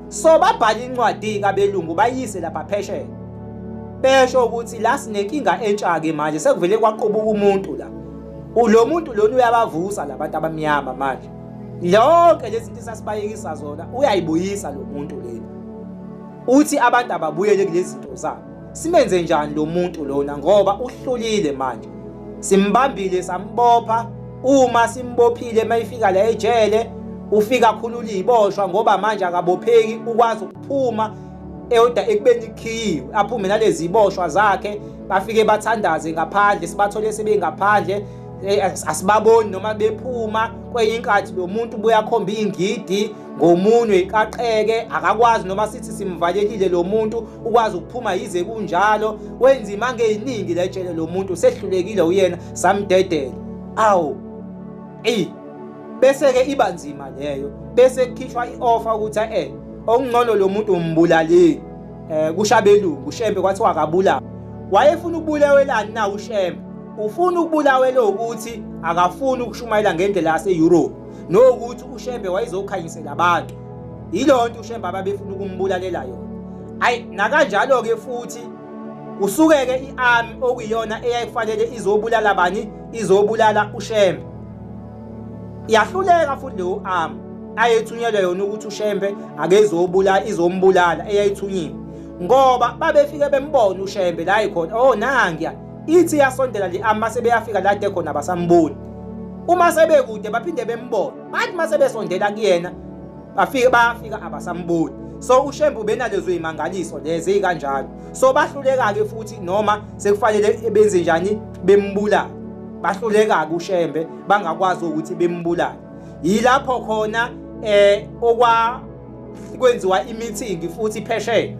So babhala incwadi-ke abelungu bayise lapha phesheya. Besho ukuthi la sinenkinga entsha-ke manje sekuvele kwaqubuka umuntu la. Ulo muntu lona uyabavusa labantu abamnyama manje. Yonke lezi zinto sasibayekisa zona uyayibuyisa lo muntu lena. Uthi abantu ababuyele kulezi zinto zabo. Simenze njani lo muntu lona ngoba uhlulile manje. Simbambile sambopha uma simbophile mayifika la ejele ufika akhulula iboshwa ngoba manje akabopheki ukwazi ukuphuma eyoda ekubeni ikhiyiwe aphume nalezi iboshwa zakhe bafike bathandaze ngaphandle sibathole sebengaphandle eh, asibaboni noma bephuma kwenye inkathi lo muntu buyakhomba ingidi ngomunwe iqaqeke akakwazi noma sithi simvalelile lo muntu ukwazi ukuphuma yize kunjalo wenza imanga eyiningi letshele lo muntu usehlulekile uyena samdedela awu eyi bese-ke iba nzima leyo bese kukhishwa i-ofa ukuthi e okungcono lo muntu umbulalile um eh, kushabelungu ushembe kwathiwa akabulawa wayefuna ukubulawelani na ushembe ufuna ukubulawela ukuthi akafuni ukushumayela ngendlela yase-europe nokuthi uShembe wayezokhanyisela abantu yiloo nto uShembe ababefuna ukumbulalela yona ayi nakanjalo-ke futhi kusuke-ke i-army okuyiyona eyayifanele izobulala bani izobulala uShembe yahluleka futhi leyo army ayethunyelwe yona ukuthi uShembe akezobulala izombulala eyayithunyiwe ngoba babefike bembona uShembe la ikhona oh nangiya ithi yasondela nje ama sebeyafika la de khona basamboni uma sebekude baphinde bembone bathi uma sebesondela kuyena bafike bayafika abasamboni so ushembu benalezo imangaliso lezi ezikanjalo so bahluleka ke futhi noma sekufanele benze njani bembulala bahluleka ke ushembe bangakwazi ukuthi bembulala yilapho khona eh okwa kwenziwa imithingi futhi phesheya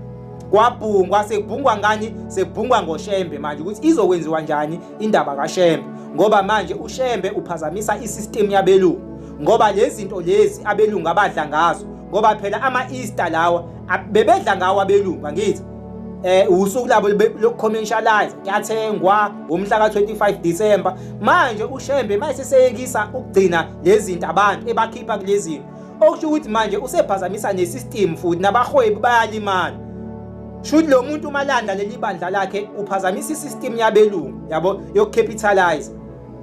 kwabhungwa sekubhungwa ngani sekubhungwa ngoshembe manje ukuthi izokwenziwa njani indaba kashembe ngoba manje ushembe uphazamisa isystem yabelungu ngoba lezi zinto lezi abelungu abadla ngazo ngoba phela ama-easter lawa bebedla ngawo abelungu angithi eh usuku labo lokucommercialize kuyathengwa ngomhla ka25 December manje uShembe mayiseseyekisa ukugcina lezi zinto abantu ebakhipha kulezi okusho ukuthi manje usephazamisa nesystem futhi nabahwebi bayalimala shuthi lo muntu uma landa leli bandla lakhe uphazamisa isystem yabelungu yabo yokucapitalize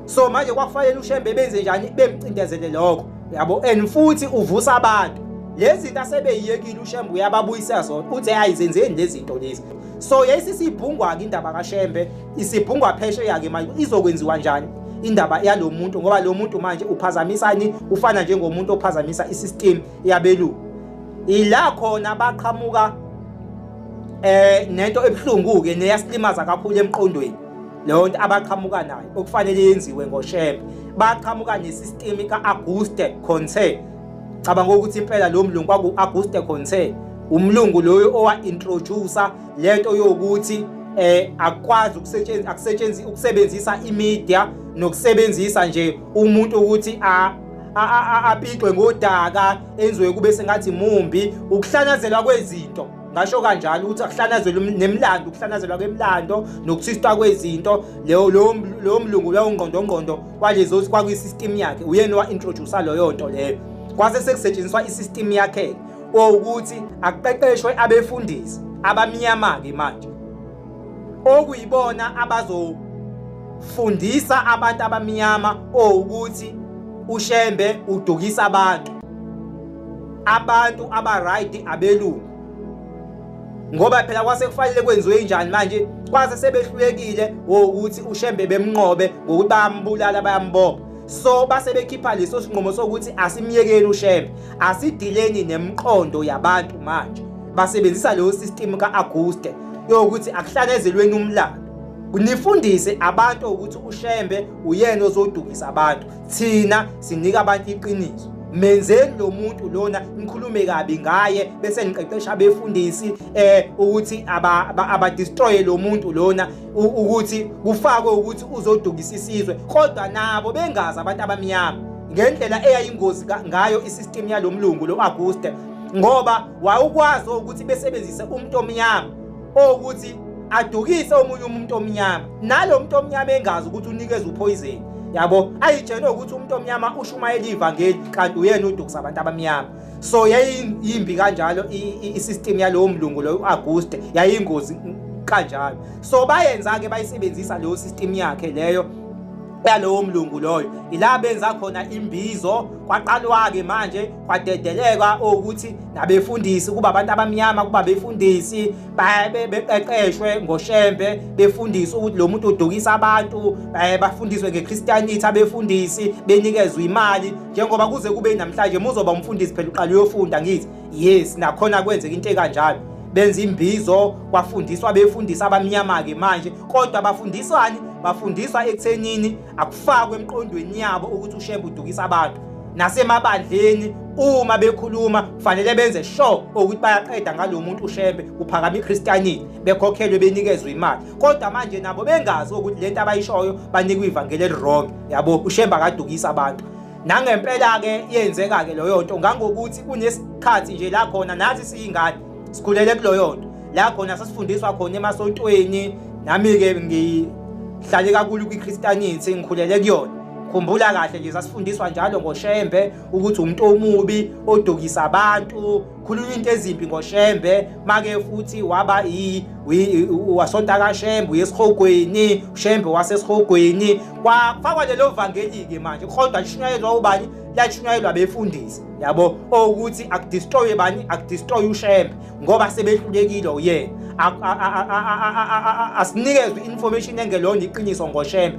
so manje kwakufanele ushembe benze njani bemcindezele lokho yabo and futhi uvusa abantu lezi zinto asebeyiyekile ushembe uyababuyisa zona uthi ayi zenzeni lezi zinto lezi so yayisisibhungwa-ke indaba kashembe isibhungwa phesheya-ke manje izokwenziwa njani indaba yalo muntu ngoba lo muntu manje uphazamisani ufana njengomuntu ophazamisa isystem yabelungu ila khona baqhamuka eh nento ebuhlungu-ke neyasilimaza kakhulu emqondweni leyo nto abaqhamuka nayo okufanele yenziwe ngoshembe baqhamuka nesystem ka-auguste conte cabanga ukuthi impela lo mlungu kwaku-auguste conte umlungu loyo owa-introducer lento yokuthi eh akwazi ukusetshenziswa akusetshenziswa ukusebenzisa imedia nokusebenzisa nje umuntu ukuthi a apixwe ngodaka enziwe kube sengathi mumbi ukuhlanazelwa kwezinto ngasho kanjalo ukuthi akuhlanazelwe um-, nemlando ukuhlanazelwa kwemlando nokuthistwa kwezinto leyo lowo mlungu lowo ngqondongqondo walezo kwakuyisystem yakhe uyena wa-introducer loyo nto leyo kwase sekusetshenziswa isystem yakhe owukuthi akuqeqeshwe abefundisi abamnyama-ke manje okuyibona abazofundisa abantu abamnyama owukuthi ushembe udukisa abantu abantu abarayidi abelungu ngoba phela kwase kufanele kwenziwe njani manje kwase sebehlulekile wokuthi ushembe bemnqobe ngokuthi bayambulala bayambopha so base bekhipha leso sinqumo sokuthi asimyekeni ushembe Asidileni nemqondo yabantu manje basebenzisa leyo system ka-Auguste yokuthi akuhlanezelweni umlando nifundise abantu ukuthi ushembe uyena ozodukisa abantu thina sinika abantu iqiniso menzeni lo muntu lona nikhulume kabi ngaye bese niqeqesha abefundisi eh ukuthi aba, aba, aba destroy lo muntu lona ukuthi kufakwe ukuthi uzodukisa isizwe kodwa nabo bengazi abantu abamnyama ngendlela eyayingozi ngayo isystem yalo mlungu lo Auguste ngoba wawukwazi ukuthi besebenzise umuntu omnyama okuthi adukise omunye umuntu omnyama nalomuntu omnyama engazi ukuthi unikeza uphoyizeni yabo ayitshene ukuthi umuntu omnyama ushumayela ivangeli kanti uyena udukisa abantu abamnyama so yayiyimbi kanjalo i-system yalowo mlungu loyo u-auguste yayiyingozi kanjalo so bayenza-ke bayisebenzisa leyo system yakhe leyo yalowo mlungu loyo ila benza khona imbizo kwaqalwa-ke manje kwadedeleka ukuthi nabefundisi kuba abantu abamnyama kuba befundisi beqeqeshwe ngoshembe befundiswe ukuthi lo muntu udukisa abantu bafundiswe nge-christianity abefundisi benikezwe imali njengoba kuze kube namhlanje muzoba umfundisi phela uqala uyofunda ngithi yes nakhona kwenzeka into ekanjalo benza imbizo kwafundiswa befundisa abamnyama-ke manje kodwa bafundiswani bafundiswa ekuthenini akufakwe emqondweni yabo ukuthi ushembe udukisa abantu nasemabandleni uma bekhuluma kufanele benze sure ukuthi bayaqeda ngalo muntu ushembe kuphakama ichristianity bekhokhelwe benikezwe imali kodwa manje nabo bengazi ukuthi lento abayishoyo banikwa ivangeli elirong yabo ushemba kadukisa abantu nangempela ke yenzeka ke loyo nto ngangokuthi kunesikhathi nje la khona nathi siyingane sikhulele kuloyo nto la khona sasifundiswa khona emasontweni nami ke ngihlale kakhulu kwiChristianity ngikhulele kuyona khumbula kahle nje sasifundiswa njalo ngoshembe ukuthi umuntu omubi odukisa abantu khulunywa into ezimbi ngoshembe make futhi waba wasonta kashembe uyesihogweni ushembe wasesihogweni kwafakwa lelo vangeli-ke manje kodwa lishunyayelwa ubani lashunyayelwa befundisi yabo okuthi akudistroye bani akudistroye ushembe ngoba sebehlulekile uyena asinikezwe i-information engelona iqiniso ngoshembe